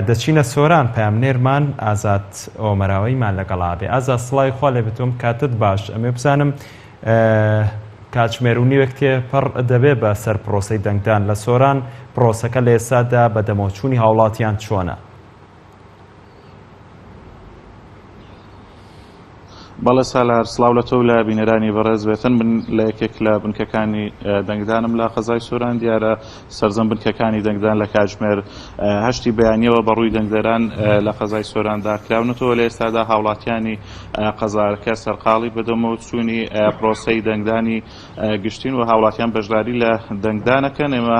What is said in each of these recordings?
دەچینە سۆران پەیامنێرمان ئازاد ئۆمەراوەیمان لەگەڵا بێ ئازا سڵاوی خوا لێ بتۆم کاتت باش ئەمێ بزانم کاتژمێر و نیوێک تێ پڕ دەبێ بە سەر پرۆسی دەنگدان لە سۆران پرۆسەکە لە ئێسادا بە دەمەوچوونی هاوڵاتیان چۆنە؟ بەڵێ سالار، سڵاو لە تۆ و لە بینەرانی بەڕێز، بێتەن بن لە یەکێک لە بنکەکانی دەنگدانم لە قەزای سۆران، دیارە سەرجەم بنکەکانی دەنگدان لە کاتژمێر هەشتی بەیانیەوە بە ڕووی دەنگدەران لە قەزای سۆراندا کراونەتەوە، لە ئێستادا هاوڵاتیانی قەزارکە سەرقاڵی بەدەمەوە چوونی پرۆسەی دەنگدانی گشتین و هاوڵاتیان بەشداری لە دەنگدانەکەن، ئێمە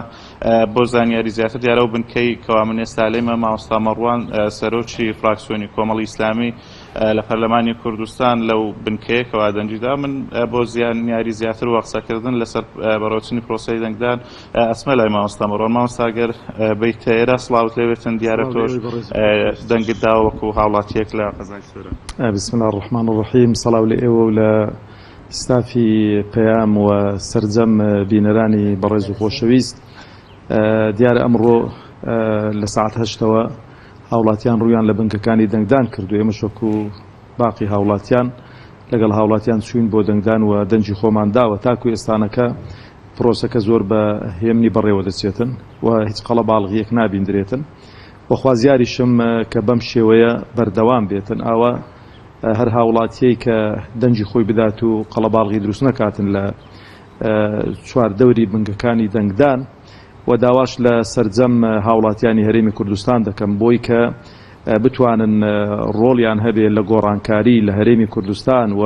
بۆ زانیاری زیاتر دیارە ئەو بنکەی کەوا من ئێستا لێمە مامۆستا مەڕوان سەرۆکی فراکسیۆنی کۆمەڵی ئیسلامی، لە پەرلەمانی کوردستان لەو بنکەیە کەوا دەنگی دا من بۆ زیانیاری زیاتر و قسەکردن لەسەر بەڕێوەچونی پرۆسەی دەنگدان ئەچمە لای مامۆستا مەڕوان مامۆستا گەر بیت ئێرە سڵاوت لێ بێتن دیارە تۆش دەنگت دا وەکو هاوڵاتیەک لە قەزای سۆران بسم اللە الرحمن الرحیم سڵاو لە ئێوە و لە ستافی پەیام و سەرجەم بینەرانی بەڕێز و خۆشەویست دیارە ئەمڕۆ لە سەعات هەشتەوە هاوڵاتیان ڕوویان لە بنکەکانی دەنگدان کرد و ئێمەش وەکو باقی هاوڵاتیان لەگەڵ هاوڵاتیان چووین بۆ دەنگدان و دەنگی خۆمان داوە، تاکو ئێستانەکە پرۆسەکە زۆر بە هێمنی بەڕێوە دەچێتن و هیچ قەڵەباڵغییەک نابیندرێتن و خوازیاریشم کە بەم شێوەیە بەردەوام بێتن ئاوا هەر هاوڵاتییەی کە دەنگی خۆی بدات و قەڵەباڵغی دروست نەکاتن لە چواردەوری بنکەکانی دەنگدان و داواش لە سەرجەم هاوڵاتیانی هەرێمی کوردستان دەکەم بۆی کە بتوانن ڕۆڵیان هەبێ لە گۆڕانکاری لە هەرێمی کوردستان و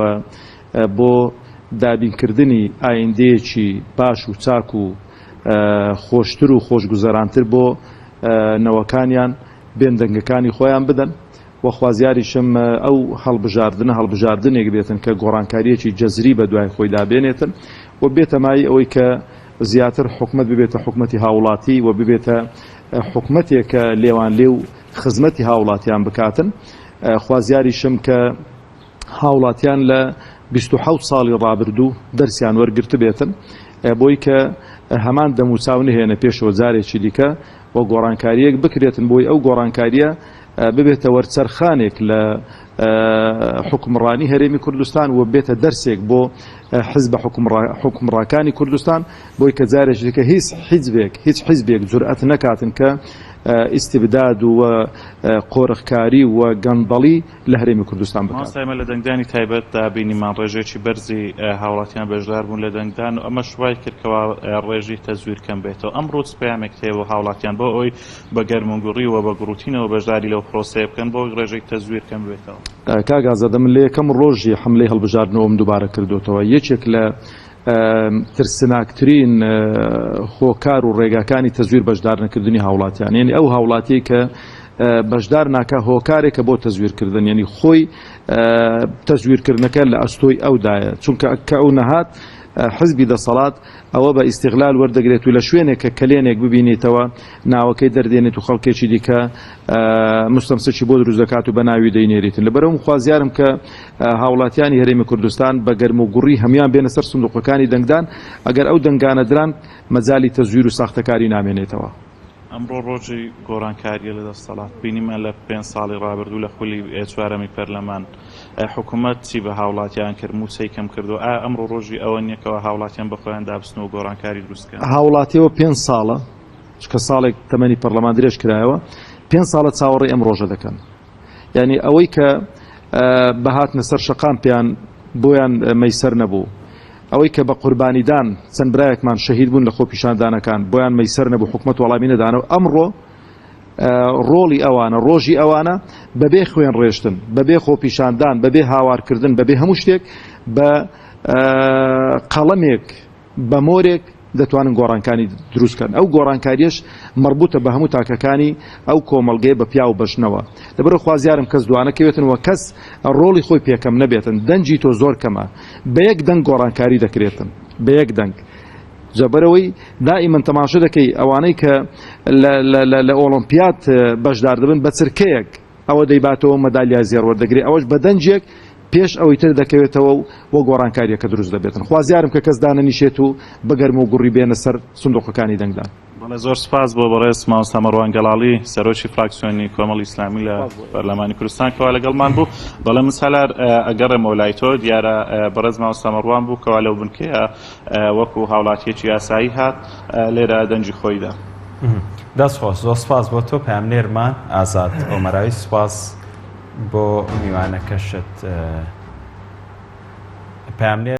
بۆ دابینکردنی ئایندەیەکی باش و چاک و خۆشتر و خۆشگوزەرانتر بۆ نەوەکانیان بێن دەنگەکانی خۆیان بدەن و خوازیاریشم ئەو هەڵبژاردنە هەڵبژاردنێک بێتن کە گۆڕانکاریەکی جەزری بەدوای خۆیدا بێنێتن و بێتەمای ئەوەی کە زیاتر حکومەت ببێتە حکومەتی هاوڵاتی و ببێتە حکومەتێک کە لێوان لێو خزمەتی هاوڵاتیان بکاتن خوازیاریشم کە هاوڵاتیان لە بیست و حەوت ساڵی ڕابردوو دەرسیان وەرگرتبێتن بۆی کە هەمان دەموچاو نهێنە پێشەوە جارێکی دیکە و گۆڕانکاریەک بکرێتن بۆی ئەو گۆڕانکاریە ببێتە وەرچەرخانێک لە حوکمڕانی هەرێمی کوردستان و بێتە دەرسێک بۆ حزبە حوکمڕاکانی کوردستان بۆی کە جارێکی دیکە هیچ حیزبێک هیچ حیزبێک جورئەت نەکاتن کە ئیستبداد و قۆرخکاری و گەندەڵی لە هەرێمی کوردستان بکات. مامۆستا ئێمە لە دەنگدانی تایبەتدا بینیمان ڕێژەیەکی بەرزی هاوڵاتیان بەشدار بوون لە دەنگدان و ئەمەش وای کرد کەوا ڕێژی تەزویر کەم بێتەوە، ئەم ڕووت پەیامێکت هەیە بۆ هاوڵاتیان بۆ ئەوەی بە گەرموگوڕی و بە گوڕوتینەوە بەشداری لەو پرۆسەیە بکەن بۆ ئەوەی ڕێژەی تەزویر کەم ببێتەوە. کاک ئازادە من لە یەکەم ڕۆژی حەملەی هەڵبژاردنەوەم دووبارە کردۆتەوە یەکێک لە ترسناکترین هۆکار و ڕێگاکانی تەزویر بەشدارنەکردنی هاوڵاتیان یەنی ئەو هاوڵاتیەی کە بەشدار ناکا هۆکارێکە بۆ تەزویر کردن یەنی خۆی تەزویرکردنەکە لە ئەستۆی ئەودایە چونکە کە ئەو نەهات حزبی دەسەڵات ئەوە بە ئیستیغلال وەردەگرێت و لە شوێنێک کە کەلێنێک ببینیتەوە ناوەکەی دەردێنێت و خەڵکێکی دیکە مستەمسکی بۆ دروست دەکات و بە ناوی دەینێریتن لەبەرەوم خوازیارم کە هاوڵاتیانی هەرێمی کوردستان بە گەرم و گوڕی هەموان بێنە سەر سندوقەکانی دەنگدان ئەگەر ئەو دەنگانە دران مەجالی تەزویر و ساختەکاری نامێنێتەوە. ئەمڕۆ ڕۆژی گۆڕانکارییە لە دەستەڵات، بینیمان لە پێنج ساڵی ڕابردوو لە خولی چوارەمی پەرلەمان حکومەت چی بە هاوڵاتیان کرد، مووچەی کەم کردووە، ئایا ئەمڕۆ ڕۆژی ئەوە نییە کەوا هاوڵاتیان بە خۆیاندا بچنەوە گۆڕانکاری دروست بکەن؟ هاوڵاتی ئەوە پێنج ساڵە، چونکە ساڵێک تەمەنی پەرلەمان درێژ کرایەوە، پێنج ساڵە چاوەڕێی ئەم ڕۆژە دەکەن، یانی ئەوەی کە بەهاتنە سەر شەقام پێیان بۆیان مەیسەر نەبوو ئەوەی کە بە قوربانیدان چەند برایەکمان شەهید بوون لە خۆپیشاندانەکان بۆیان مەیسەر نەبوو حکومت وەڵامی نەدانە و ئەمڕۆ ڕۆڵی ئەوانە ڕۆژی ئەوانە بەبێ خوێن ڕێشتن بەبێ خۆپیشاندان بەبێ هاوارکردن بەبێ هەموو شتێک بە قەڵەمێک بە مۆرێک دەتوانن گۆڕانکاری دروست کەن ئەو گۆڕانکاریەش مەڕبوتە بە هەموو تاکەکانی ئەو کۆمەڵگەیە بە پیاو بە ژنەوە لەبەرە خوازیارم کەس دوانەکەوێتن وە کەس ڕۆڵی خۆی پێکەم نەبێتن دەنجی تۆ زۆر کەمە بە یەک دەنگ گۆڕانکاری دەکرێتن بە یەک دەنگ جەبەرەوەی دائیمەن تەماشە دەکەی ئەوانەی کە لە ئۆڵۆمپیات بەشدار دەبن بە چرکەیەک ئەوە دەیباتەوەو مەدالیا زێڕ وەردەگرێت ئەوەش بە دەنگێک پێش ئەوەی تر دەکەوێتەوەو و گۆڕانکاریەکە دروست دەبێتن خوازیارم کە کەس دانەنیشێت و بەگەرم و گوڕی بێنە سەر سندوقەکانی دەنگدان. بەڵێ زۆر سوپاس بۆ بەڕێز مامۆستا مەڕوان گەڵاڵی سەرۆکی فراکسیۆنی کۆمەڵی ئیسلامی لە پەرلەمانی کوردستان کەوا لەگەڵمان بوو بەڵێ من سالار ئەگەڕێمەوە لای تۆ دیارە بەڕێز مامۆستا مەڕوان بوو کەوا لەو بنکەیە وەکو هاوڵاتیەکی ئاسایی هات لێرە دەنگی خۆی دا. دەست خۆش زۆر سپاس بۆ تۆ پەیامنێرمان ئازاد ئۆمەرای سپاس بۆ میوانەکەشت پەیامنێر